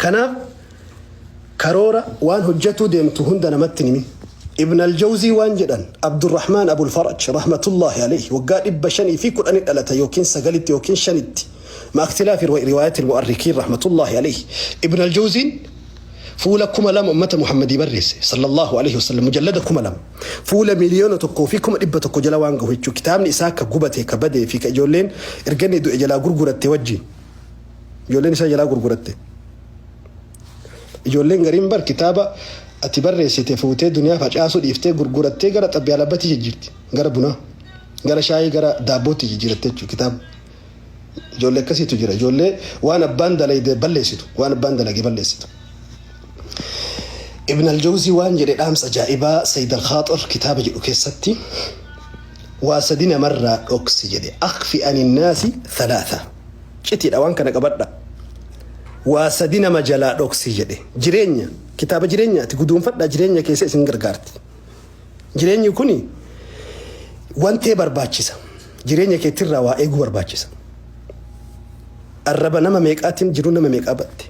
Kanaaf karoora waan hojjatuu deemtu hunda namatti hin himin. Ibn al-Jawzii waan jedhan Abdurrahmaan Abul Faraj rahmatullaahi alayhi waggaa 510 dhalata yookiin 9tti yookiin 5tti ma'a ikhtilaafi riwaayatil mu'arrikiin rahmatullaahi alayhi Ibn al-Jawziin fuula 2000 ummata Muhammadii barreesse sallallaahu alayhi wasallam mujallada 2000 fuula miliyoona 1 fi 100 jala waan gahu jechuu kitaabni isaa ka gubate ka badee fi ka ijoolleen erga inni du'e jalaa gurguratte wajjiin ijoolleen isaa jalaa gurguratte. Ijoolleen gariin bar kitaaba ati barreessite fuutee duniyaa facaasuu dhiiftee gurgurattee gara xabbiyaalabbatti jijjiirti. Gara bunaa, gara shaayii, gara daabbootti jijjiiratte jechuudha kitaaba. Ijoollee akkasiitu jira. Ijoollee waan abbaan dalayde balleessitu. Waan abbaan dalage balleessitu. Ibn al-Jawzii waan jedhe dhaamsa ajaa'ibaa Sayyid al-Khaaxir kitaaba jedhu keessatti waa sadi namarraa dhoksi jedhe. Akhfi ani naasi thalaatha. Citiidha waan kana qabadha. Waa sadi nama jalaa dhoksi jedhe. Jireenya, kitaaba jireenyaati guduunfadhaa jireenya keessa isin gargaarti. Jireenyi kuni wantee barbaachisa. Jireenya keetirraa waa eeguu barbaachisa. Arraba nama meeqaatiin jiruu nama meeqaa batte.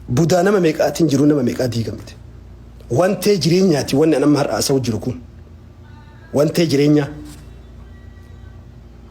Budaa nama meeqaatiin jiruu nama meeqaa diigamte. Wantee jireenyaati wanni an amma har'a haasa'u jiru kun. Wantee jireenyaa.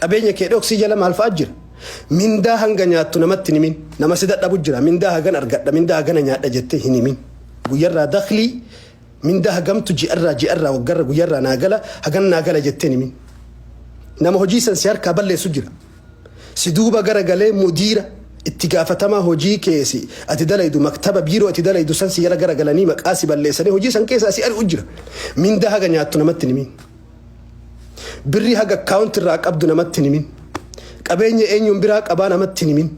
Qabeenya kee dhoksii jala maal fa'a jira? Mindaa hanga nyaattu namatti hin himin. Nama si dadhabu jira. Mindaa hagan argadha, mindaa hagana nyaadha jettee hin himin. Guyyarraa daklii mindaa hagamtu ji'arraa, ji'arraa, waggarra, guyyarraa naa gala, hagan naa gala jettee hin himin. Nama hojii san si harkaa balleessu jira. Si duuba gara galee mudiira itti gaafatamaa hojii kee si ati dalaydu maktaba biiroo ati dalaydu san si jala gara galanii maqaa si balleessanii hojii san keessaa si ari'u jira. Mindaa haga nyaattu namatti hin himin. Birrii haga account irraa qabdu namatti hin himin. Qabeenya eenyuun biraa qabaa namatti hin himin.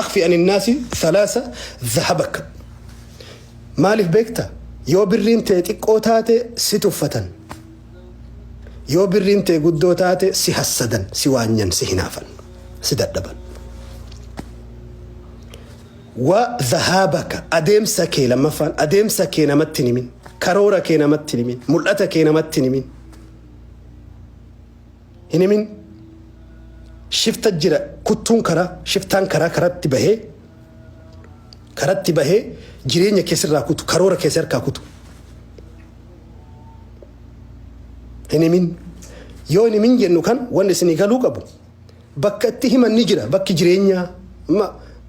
Akhfi ani naasi thalaasa dhahabaka. Maaliif beekta? Yoo birriin tee xiqqoo taate si tuffatan. Yoo birriin tee guddoo taate si hassadan, si waanyan, si hinaafan, si dadhaban. Wa dhahabaka, adeemsa kee, lammaffaan adeemsa kee namatti hin himin, karoora kee namatti hin himin, mul'ata kee namatti hin himin. Hin himin. Shifta jira kuttuun karaa, shiftaan karaa karatti bahee karatti bahee jireenya kee sirraa kutu, karoora kee si harkaa kutu. Hin himin. Yoo hin himin jennu kan wanni isinii galuu qabu bakka itti himan ni jira bakki jireenyaa amma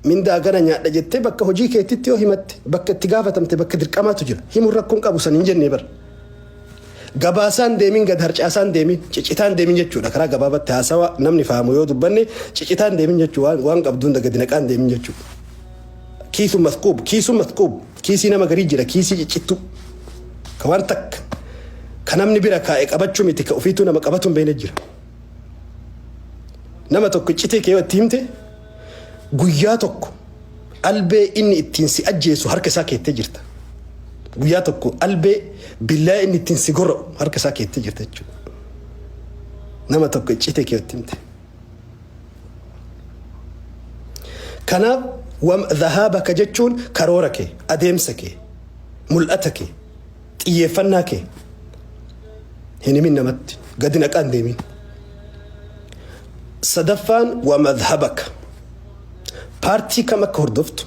mindaa gana nyaadha jettee bakka hojii keettitti yoo himatte bakka itti gaafatamte bakka dirqamaatu jira himuun rakkoon qabu san hin jennee bara gabaasaan deemin gad harcaasaan deemin cicitaan deemin jechuudha karaa gabaabatti haasawa namni fahamu yoo dubbanne cicitaan deemin jechuu waan, waan qabdu hunda gadi naqaan deemin jechuudha kiisu masquub kiisu masquub kiisii nama garii jira kiisii ciccittuu ka waan takka ka namni bira kaa'e qabachuu miti ka ofiituu nama qabatu hin beekne jira Nama tokko iccitii kee yoo itti himte guyyaa tokko albee inni ittiin si ajjeesu harka isaa keettee jirta. Guyyaa tokko albee billaa inni ittiin si gora'u harka isaa keettee jirta jechuudha. Nama tokko iccitii kee yoo itti himte. Kanaaf wam dhahaabaka jechuun karoora kee, adeemsa kee, mul'ata kee. Xiyyeeffannaa kee hin himin namatti. Gadi naqaa hin deemin. Sadaffaan waa madhabaka. Paartii kam akka hordoftu,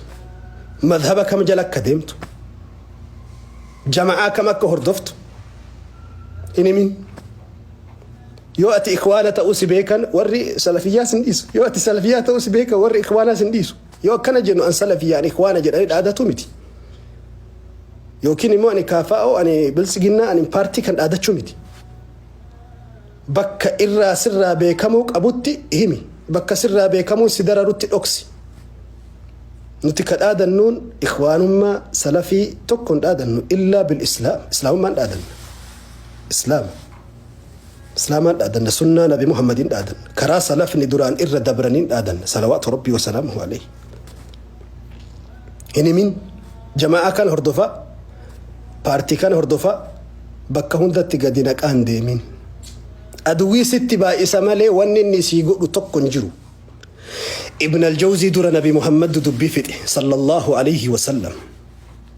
madhaba kam jala akka deemtu, jama'aa kam akka hordoftu hin himin. Yoo ati ikwaana ta'uu si beekan warri salafiyyaa sin dhiisu. Yoo ati salafiyyaa ta'uu si beekan warri ikwaanaa sin dhiisu. Yoo akkana jennu an salafiyyaa an ikwaana jedhanii dhaadatu miti. Yookiin immoo ani KFO, ani Biltsiginnaa, ani paartii kan dhaadachuu miti. Bakka irraa sirraa beekamuu qabutti himi. Bakka sirraa beekamuun si dararutti dhoksi. Nuti ka dhaadannuun ikhwaanummaa salafii tokko hin dhaadannu illaa bil islaam. Islaamummaan dhaadanna. Islaama. Islaamaan dhaadanna. Sunnaa Nabi Muhammadiin dhaadanna. Karaa salafni duraan irra dabraniin dhaadanna. Salawaatu Rabbii wa salaamuhu alayhi. hin himin jama'aa kan hordofaa paartii kan hordofaa bakka hundatti gadi naqaa hin deemin aduwii sitti baay'isa malee wanni inni sii godhu tokko hin jiru ibn aljawzii dura nabi muhammad dubbii fixe sallallahu alayhi wasallam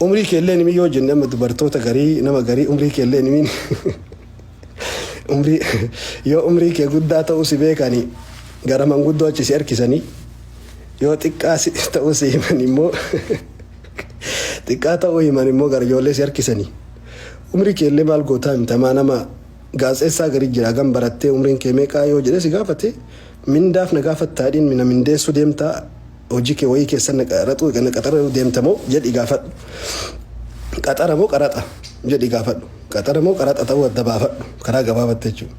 Umrii kee illee hin himin yoo jenne amma dubartoota garii nama garii umrii kee illee hin himin umrii yoo umrii kee guddaa ta'uu si beekani gara manguddoo achi si harkisanii yoo xiqqaa si ta'uu si himan immoo xiqqaa ta'uu himan immoo gara ijoollee si harkisanii umrii kee illee maal gootaa himta maa nama gaazexeessaa garii jira hagam barattee umriin kee meeqaa yoo jedhee si gaafate Mindaaf na gaafattaa jedhiin mina mindeessuu deemtaa hojii kee wayii keessan na qaraxuu na qaxaruu deemta moo jedhii gaafadhu qaxara moo qaraxa jedhii gaafadhu qaxara moo qaraxa ta'uu adda baafadhu karaa gabaabatte jechuudha.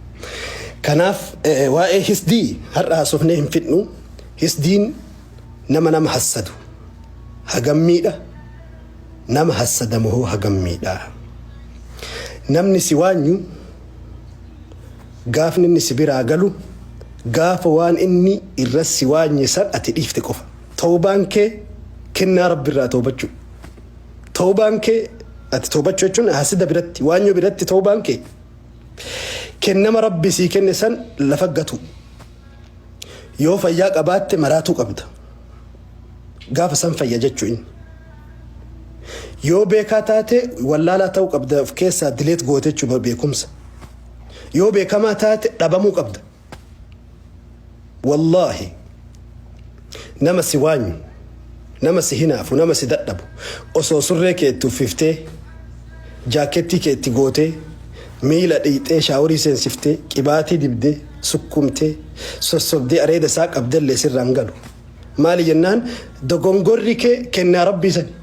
Kanaaf eh, waa'ee hisdii har'a haasofnee hin fidnu hisdiin nama nama hassadu hagam miidha nama hassadamu hoo hagam miidha namni si waanyu Gaafni inni si biraa galu gaafa waan inni irra si waanye san ati dhiifte qofa. Tawbaan kee kennaa Rabbi irraa tawbachuu. Tawbaan kee ati tawbachuu jechuun haasida biratti, waanyoo biratti tawbaan kee kennama Rabbi sii kenne san lafa gatuu. Yoo fayyaa qabaatte maraatuu qabda. Gaafa san fayya jechuu inni. Yoo beekaa taate wallaalaa ta'uu qabda of keessaa dileet goote jechuu beekumsa. Yoo beekamaa taate dhabamuu qabda. Wallaahi nama si waanyu, nama si hinaafu, nama si dadhabu osoo surree kee itti uffiftee, jaakkeettii kee itti gootee, miila dhiqxee, shaaworii seensiftee, qibaatii dibdee, sukkumtee, sossobdee areeda isaa qabdellee sirraa hin galu. Maali jennaan dogongorri kee kennaa Rabbii sani.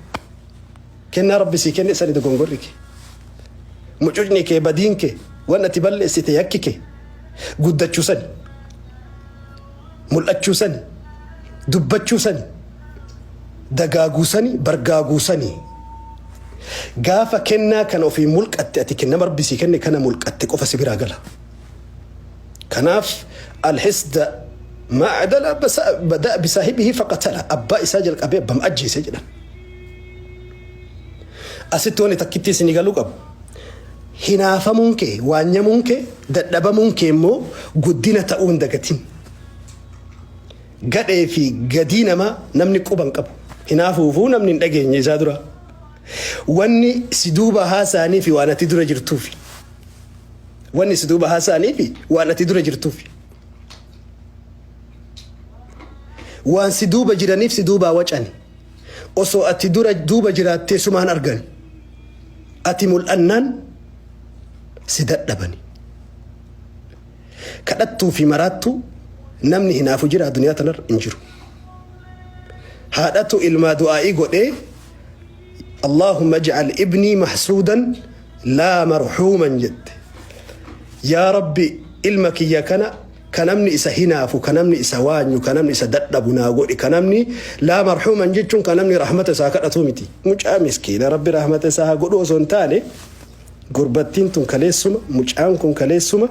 Kennaa Rabbi sii kenne sani dogongorri kee, mucucni kee, badiin kee, wan ati balleessite yakki kee guddachuu sani, mul'achuu sani, dubbachuu sani, dagaaguu sani, bargaaguu sani. Gaafa kennaa kana ofii mulqatte ati kennama Rabbi sii kenne kana mulqatte qofa si biraa gala. Kanaaf alhisda maa adala basa- bada'a bisaahibihi faqatala abbaa isaa jalqabee abbama ajjeese jedhan. Asitti wanni takkittii isinii galuu qabu hinaafamuun kee, waanyamuun kee, dadhabamuun kee immoo guddina ta'uu hin dagatin. Gadhee fi gadii namaa namni quba hin qabu. Hinaafuufuu namni hin dhageenye isaa dura. Wanni si duuba haasa'anii fi waan ati dura jirtuufi. Wanni si duuba haasa'anii fi waan ati dura jirtuufi. Waan si duuba jiraniif si duubaa wacani. Osoo ati dura duuba jiraattee sumaan argan. Ati mul'annaan si dadhabani. Kadhattuu fi maraattuu namni hinaafu jiraa duniyaa tanarra hin jiru. Haadhatu ilmaa du'aa'ii godhee Allahumma ij'al ibnii mahsuudan laa marhuuman jette. Yaa Rabbi ilma kiyya kana ka namni isa hinaafu, ka namni isa waanyu, ka namni isa dadhabu naa godhi, ka namni laa marhuuman jechuun ka namni rahmata isaa kadhatu miti. Mucaa miskiina Rabbi rahmata isaa haa godhu osoo hin taane gurbattiin tun kaleessuma, mucaan kun kaleessuma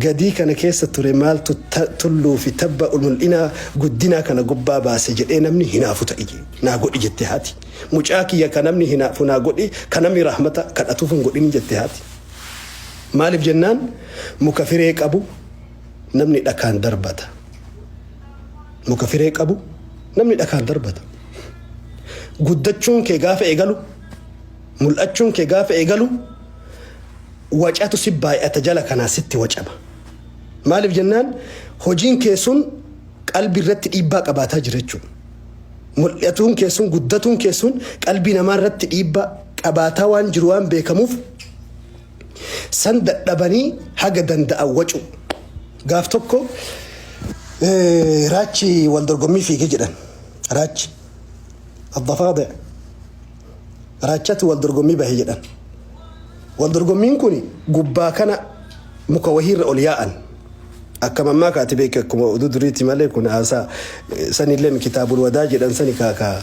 gadii kana keessa ture maaltu ta- tulluu fi tabba mul'inaa guddinaa kana gubbaa baase jedhee namni hinaafu ta'i je- naa godhi jette haati. Mucaa kiyya ka namni hinaafu naa godhi, ka namni rahmata kadhatuuf hin godhin jette haati. Maaliif jennaan muka firee qabu namni dhakaan darbata. Muka firee qabu namni dhakaan darbata. Guddachuun kee gaafa eegalu, mul'achuun kee gaafa eegalu, wacatu si baay'ata jala kanaa sitti wacama. Maaliif jennaan hojiin kee sun qalbii irratti dhiibbaa qabaataa jira jechuudha. Mul'atuun kee sun, guddatuun kee sun qalbii namaa irratti dhiibbaa qabaataa waan jiru waan beekamuuf San dadhabanii haga danda'an wacu. Gaaf tokko eh, raachi wal dorgommii fiige jedhan. Raachi. Addafaade. Raachatu wal dorgommii bahe jedhan. Wal dorgommiin kun gubbaa kana muka wahiirra ol yaa'an. Akka mammaa kaati beeke akkuma oduu duriiti malee kun haasaa eh, sanillee kitaabul wadaa jedhan sani kaakaa.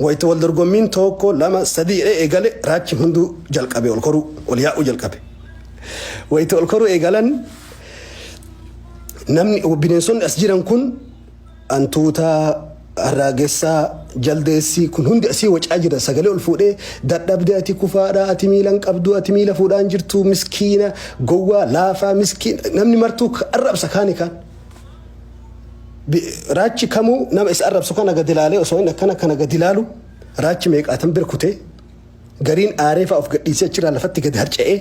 Wayita wal dorgommiin tookko, lama, sadii jedhee eegale raachi hunduu jalqabe ol koruu, ol yaa'uu jalqabe. Wayita ol koruu eegalan namni bineensonni as jiran kun antuutaa, arraagessaa, jaldeessi kun hundi asii wacaa jiran sagalee ol fuudhee dadhabde ati kufaadha ati miila hin qabdu ati miila fuudhaan jirtu miskiina gowwaa laafaa miskiina namni martuu arrabsa kaani kaan. Bi- Raachi kamuu nama isa arrabsu kana gadi ilaalee osoo inni akkana kana gadi ilaalu raachi meeqaatan bira kutee gariin aaree fa'aa of gadhiisee achirraa lafatti gadi harca'ee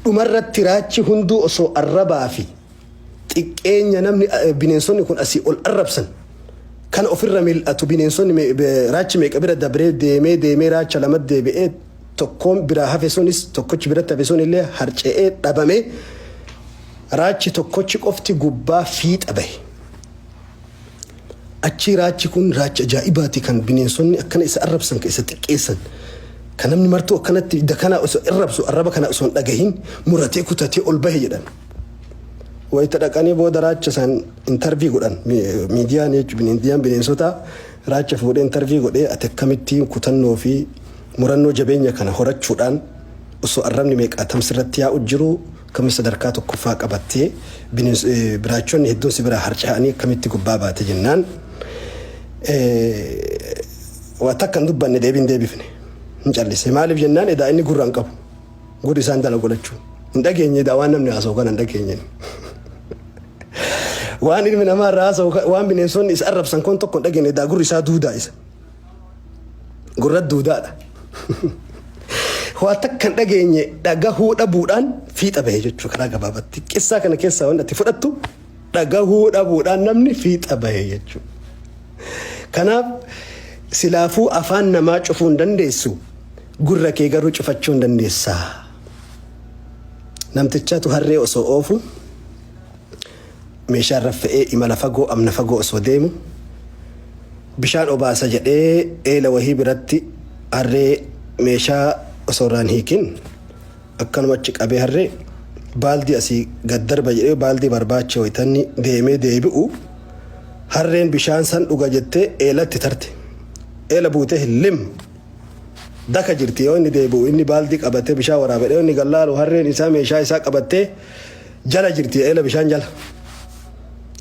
dhumarratti raachi hunduu osoo arrabaa fi xiqqeenya namni eh, bineensonni kun asii ol arrabsan kana ofirra mil'atu bineensonni me- be- raachi meeqa bira dabree deemee deemee raacha lama deebi'ee tokkoon biraa hafe sunis tokkochi biratti hafe sun illee harca'ee dhabamee Raachi tokkochi qofti gubbaa fiixa bahe. Achii raachi kun raacha ajaa'ibaati kan bineensonni akkana isa arrabsan kan isa xiqqeessan kan namni martuu akkanatti dakanaa osoo irrabsu arraba kana osoo hin dhagahin muratee kutatee ol bahe jedhan. Wayita dhaqanii booda raacha isaan intarvii godhan miidiyaan jechuun miidiyaan bineensotaa raacha fuudhee intarvii godhee ati akkamittiin kutannoo fi murannoo jabeenya kana horachuudhaan osoo arrabni meeqaatamsi irratti yaa'u jiru Akkamitti sadarkaa tokkoffaa qabattee biraachonni hedduun si biraa harca'anii akkamitti gubbaa baate jennaan waa takka hin dubbanne deebii hin deebifne hin callise maaliif jennaan edaa inni gurra hin qabu gurri isaan dala godhachuu hin dhageenye edaa waan namni haasa'u kana hin dhageenye waan ilmi namaa irraa haasa'u waan bineensonni isa arrabsan kun tokko hin dhageenye edaa gurri isaa duudaa isa. Gurra duudaadha. Waa takka hin dhageenye dhagahuu dhabuudhaan fiixa bahe jechuudha karaa gabaabatti. Qissaa kana keessaa waan ati fudhattu dhagahuu dhabuudhaan namni fiixa bahe jechuudha. Kanaaf silaafuu afaan namaa cufuu hin dandeessu gurra kee garuu cufachuu hin dandeessaa. Namtichatu harree osoo oofu Meeshaa irra fe'ee imala fagoo amna fagoo osoo deemu bishaan obaasa jedhee eela wahii biratti harree meeshaa osoo irraa hin hiikin akkanuma achi qabee harree baaldii asii gad darba jedhee baaldii barbaacha wayitanni deemee deebi'u harreen bishaan san dhuga jettee eelatti tarte. Eela buutee lim daka jirti yoo inni deebi'u inni baaldii qabatee bishaan waraabadhe yoo inni gallaalu harreen isaa meeshaa isaa qabattee Jala jirti eela bishaan jala.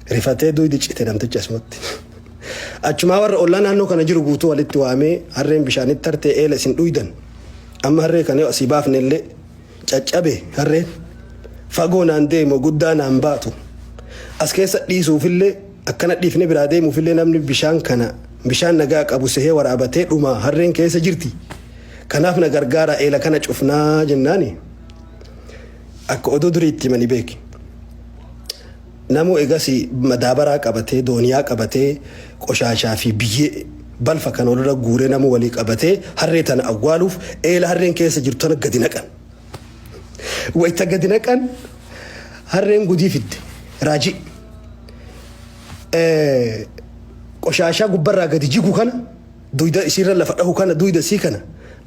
Rifatee duydi cite namtichi asumatti. Achumaa warra ollaa naannoo kana jiru guutuu walitti waamee harreen bishaanitti tartee eela isin dhuydan. Amma harree kana yoo asii baafne illee caccabe harreen fagoo naan deemu guddaa naan baatu. As keessa dhiisuufillee akkana dhiifne biraa deemuufillee namni bishaan kana bishaan nagaa qabu sehee waraabatee dhuma harreen keessa jirti. Kanaaf na gargaara eela kana cufnaa jennaani. Akka oduu durii itti himani beeki. Namuu egasii madaabaraa qabatee, dooniyaa qabatee, qoshaashaa fi biyyee, balfa kana walirra guuree namuu walii qabatee harree tana awwaaluuf eela harreen keessa jirtu tana gadi naqan. Wayta gadi naqan harreen gudii fidde. Raajii. Ee, qoshaashaa gubbarraa gadi jigu kana duyda isiirra lafa dhahu kana duyda isii kana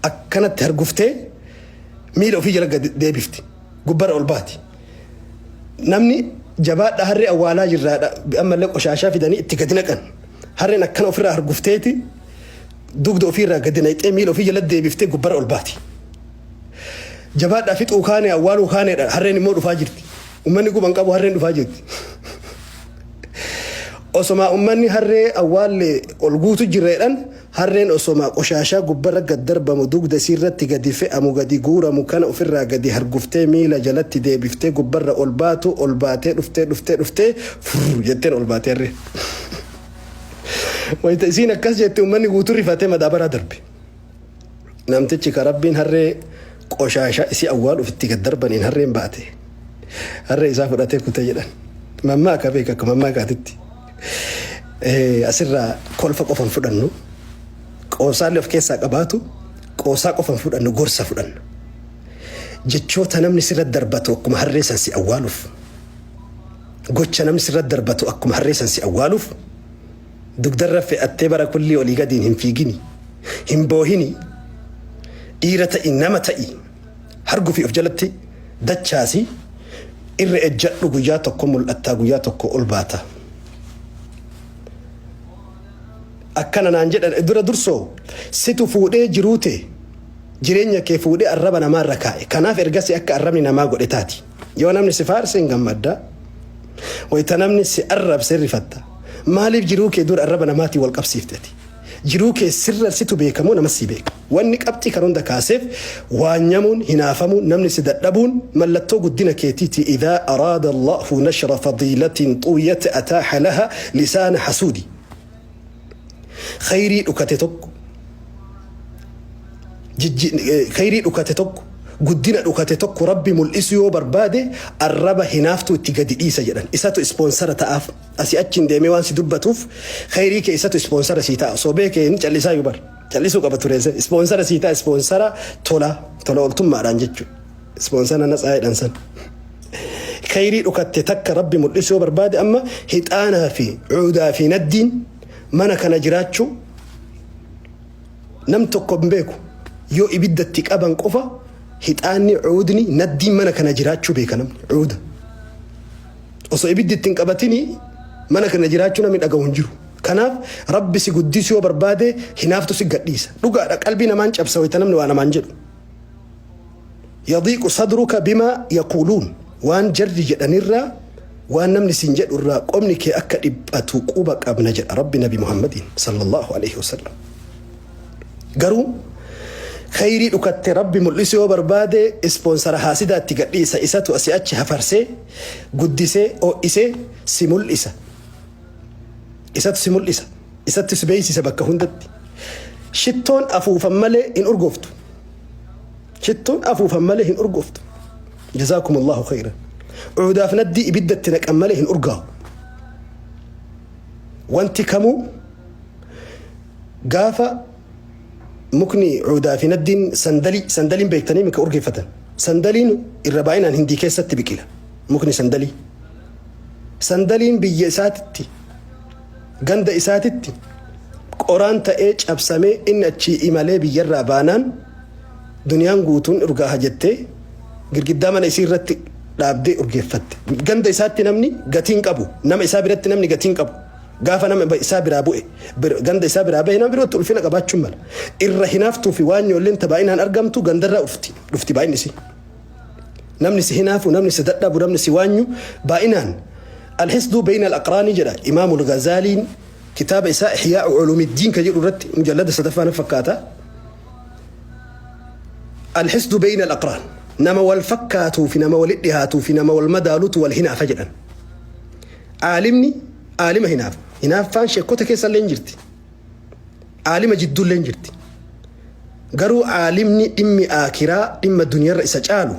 akkanatti harguftee miila ofii jala gad deebifti gubbarra ol baati namni jabaadha harree awwaalaa jirraadha ammallee qoshaashaa fidanii itti gadi naqan harreen akkana ofirraa hargufteeti dugda ofiirraa gadi naqxee miila ofii jala deebiftee gubbarra ol baati jabaadhaa fixuu kaanee awwaaluu kaaneedha harreen immoo dhufaa jirti. Ummanni quba hin qabu harreen dhufaa jirti. Osomaa ummanni harree awwaallee ol guutu jirra jedhan harreen osomaa qoshaashaa gubbarra gad darbamu dugda isiirratti gadi fe'amu gadi guuramu kana ofirraa gadi harguftee miila jalatti deebiftee gubbarra ol baatu ol baatee dhuftee dhuftee dhuftee furr jetteen ol baatee harree. Wayita isiin akkas jette ummanni guutu rifatee madaabaraa darbe. Namtichi ka Rabbiin harree qoshaasha isii awwaaluuf itti gad darbaniin harreen baate. Harree isaa fudhatee kute jedhan. Mammaa akka beeka akka mammaa kaatitti. Eh, Asirraa kolfa qofa hin fudhannu. Qoosaallee of keessaa qabaatu qoosaa qofa hin fudhannu gorsa fudhanna. Jechoota namni sirra darbatu akkuma harree san si awwaaluuf. Gocha namni sirra darbatu akkuma harree san si awwaaluuf. Dugdarra fe'attee bara kullii olii gadiin hin fiigini. Hin boohini. Dhiira ta'i, nama ta'i. Hargufi of jalatti dachaasi. Irra ejjadhu guyyaa tokko mul'attaa guyyaa tokko ol baata. Akkana naan jedhan dura dursoo situ fuudhee jiruu tee jireenya kee fuudhee arraba namaarra kaa'e. Kanaaf ergasii akka arrabni namaa godhe taati. Yoo namni si faarse hin gammadda, wayita namni si arrabse hin rifatta. Maaliif jiruu kee dura arraba namaatiin wal qabsiifte ati? Jiruu kee sirra situ beeka moo namas si beeka? Wanni qabxii kana hunda kaaseef waanyamuun, hinaafamuun, namni si dadhabuun mallattoo guddina keetiiti Idha araada Allahu nashra fadiilatin tuuyat ataaha laha lisaana hasuudi. khayrii dhukate tokko jijji- eh, khayrii dhukate tokko guddina dhukate tokko rabbi mul'isu yoo barbaade arraba hinaaftuu itti gadi dhiisa jedhan isatu ispoonsara ta'aaf asi achiin deemee waan si dubbatuuf khayrii kee isatu ispoonsara sii ta'a sobee kee inni callisaa yubar callisuu qaba tureese ispoonsara sii ta'a ispoonsara tola tola ooltummaadhaan jechuudha. Ispoonsar ana tsaayiidhaan san. Khayrii dhokatte takka rabbi mul'isuu yoo barbaade amma hixaanaa fi cuudaa fi naddiin mana kana jiraachuu nam tokko hin beeku yoo ibiddatti qaban qofa hixaanni cuudni naddiin mana kana jiraachuu beeka namni cuuda. Osoo ibiddi ittiin qabatini mana kana jiraachuu namni dhagahu hin jiru. Kanaaf rabbi si guddisuu yoo barbaade hinaaftu si gadhiisa. Dhugaadha qalbii namaan cabsa wayita namni waa namaan jedhu. Yadiiqu sadruka bimaa yaquuluun Waan jarri jedhan irraa, waan namni siin jedhu irraa qomni kee akka dhiphatu quba qabna jedha Rabbi Nabi Muhammadiin sallallahu aleyhi wasallam. Garuu kheyrii dhukatte Rabbi mul'isu yoo barbaade ispoonsara haasidaatti gadhiisa isatu asi achi hafarsee guddisee oo'isee si mul'isa. Isatu si mul'isa. isattis beeksise bakka hundatti. Shittoon afuufan malee hin urgooftu. Shittoon afuufan malee hin urgooftu. Jazaakumullahu khayran. Uudaaf naddii ibiddatti naqan malee hin urgaawu. Wanti kamuu gaafa mukni uudaa fi naddiin sandalii sandaliin beektanii mika urgeeffatan. Sandaliin irra baay'inaan hindii keessatti biqila. Mukni sandalii. Sandaliin biyya isaatitti Ganda isaatitti qoraan ta'ee cabsamee inni achii imalee biyyarraa baanaan duniyaan guutuun urgaaha jettee girgiddaa mana isii irratti dhaabdee urgeeffatte. Ganda isaatti namni gatii hin qabu. Nama isaa biratti namni gatii hin qabu. Gaafa nama isaa biraa bu'e ganda isaa biraa bahe nama birootti ulfina qabaachuu mala. Irra hinaaftuu fi waan yoolleen tabaa'inaan argamtu gandarraa dhufti baay'inni isii. namni si hinaafu namni si dadhabu namni si waanyu baay'inaan alhisduu beeyna alaqraanii jedha imaamu algazaaliin kitaaba isaa ihyaa'u culuumiddiin ka jedhu irratti mujallada sadaffaa na fakkaata alhisdu beeyna alaqraan nama wal fakkaatuu fi nama walitti dhihaatuu fi nama wal madaalutu wal hinaafa jedhan aalimni aalima hinaafa hinaaffaan sheekkota keessa illee hin jirti Aalima jidduulleen jirti. Garuu aalimni dhimmi aakiraa dhimma duniyarra isa caalu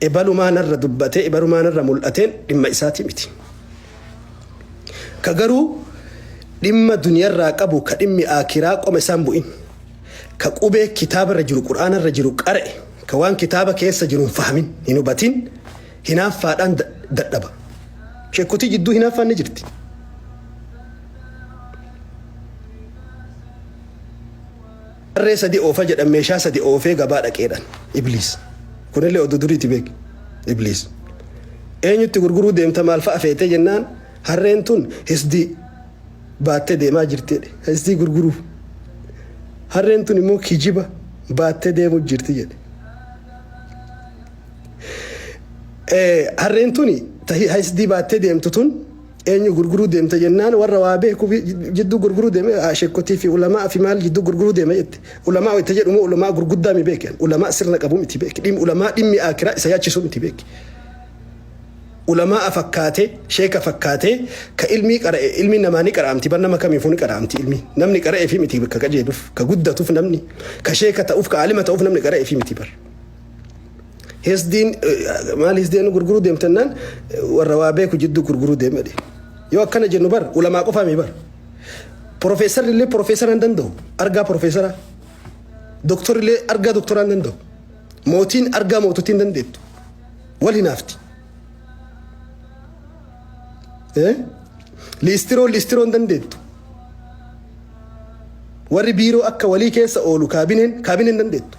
ebalumaa narra dubbatee ebalumaa narra mul'ateen dhimma isaati miti. Ka garuu dhimma duniyarraa qabu ka dhimmi aakiraa qoma isaan bu'in. Ka qubee kitaabarra jiru qur'aanarra jiru qara'e ka waan kitaaba keessa jiru hin fahamin hin hubatin Hinaaffaadhaan dadhaba. Shekkotii jidduu hinaaffaan ni jirti. Harree sadi oofa jedhan meeshaa sadi oofee gabaa dhaqeedhaan. Ibliis. Kunillee oduu duriiti beeki. Ibliis. Eenyutti gurguruu deemta maal fa'a feetee jennaan harreen tun hisdii baattee deemaa jirteedha. Hisdii gurguruu. Harreen tun immoo kijiba baattee deemuu jirti jedhe. Harreen tuni ta hihaysdii baattee deemtu tun eenyu gurguruu deemta jennaan warra waa beeku jidduu gurguruu deeme sheekkotii fi ulamaa fi maal jidduu gurguruu deema jette. Ulamaa wayta jedhu moo ulamaa gurguddaa mi beeki an ulamaa sirna qabu miti beeki dhimmi ulamaa dhimmi aakiraa isa yaachisu miti beeki. Ulamaa fakkaatee sheeka fakkaatee ka ilmii qara'e ilmi namaa ni qara'amti bar nama kamiifuu ni qara'amti ilmi namni qara'eefi miti ka qajeeluuf ka guddatuuf namni ka sheeka ta'uuf ka aalima ta'uuf namni qara'eefi miti bar. Hisdiin maal hisdiin gurguruu deemtannaan warra waa beeku jidduu gurguruu deemedhe. Yoo akkana jennu bar ulamaa qofaa mi bar. Profeesarri illee profeesara hin danda'u argaa profeesara. Doktorri illee argaa doktoraa hin danda'u. Mootiin argaa mootottii hin dandeettu. Wal hinaafti. Liistiroo liistiroo hin dandeettu. Warri biiroo akka walii keessa oolu kaabineen kaabineen hin dandeettu.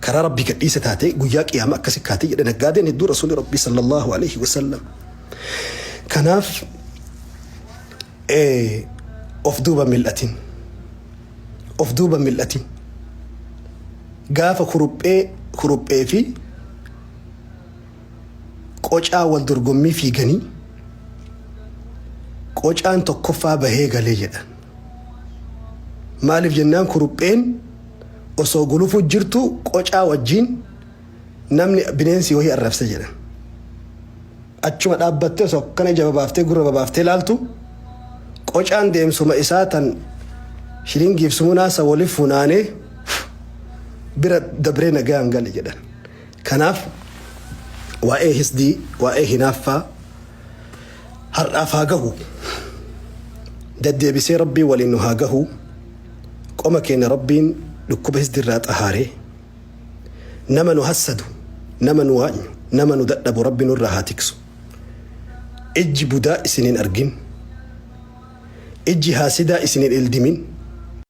karaa Rabbii gadhiise taatee guyyaa qiyaama akkasi kaati jedhe naggaadeen hedduu Rasuulli Rabbii sallallahu alayhi wa sallam. Kanaaf of duuba mil'atin. Of duuba mil'atin. Gaafa kuruphee kuruphee fi qocaa wal dorgommii fiiganii qocaan tokkoffaa bahee galee jedhan. Maaliif jennaan kurupheen osoo gulufuu jirtuu qocaa wajjiin namni bineensi wahii arrabse jedhan. Achuma dhaabbattee osoo akkana ija babaaftee gurra babaaftee laaltu qocaan deemsuma isaa tan shilingiif sumunaa san wali funaanee bira dabree nagaan gale jedhan. Kanaaf waa'ee hisdii, waa'ee hinaaffaa, Har'aaf haa gahu. Daddeebisee Rabbii waliin nu haa gahu. Qoma keenya Rabbiin dhukkuba hisdi irraa xahaaree. Nama nu hassadu, nama nu waanyu, nama nu dadhabu Rabbi nurraa haa tiksu. Ijji budaa isin hin argin. Ijji haasidaa isin hin ildimin.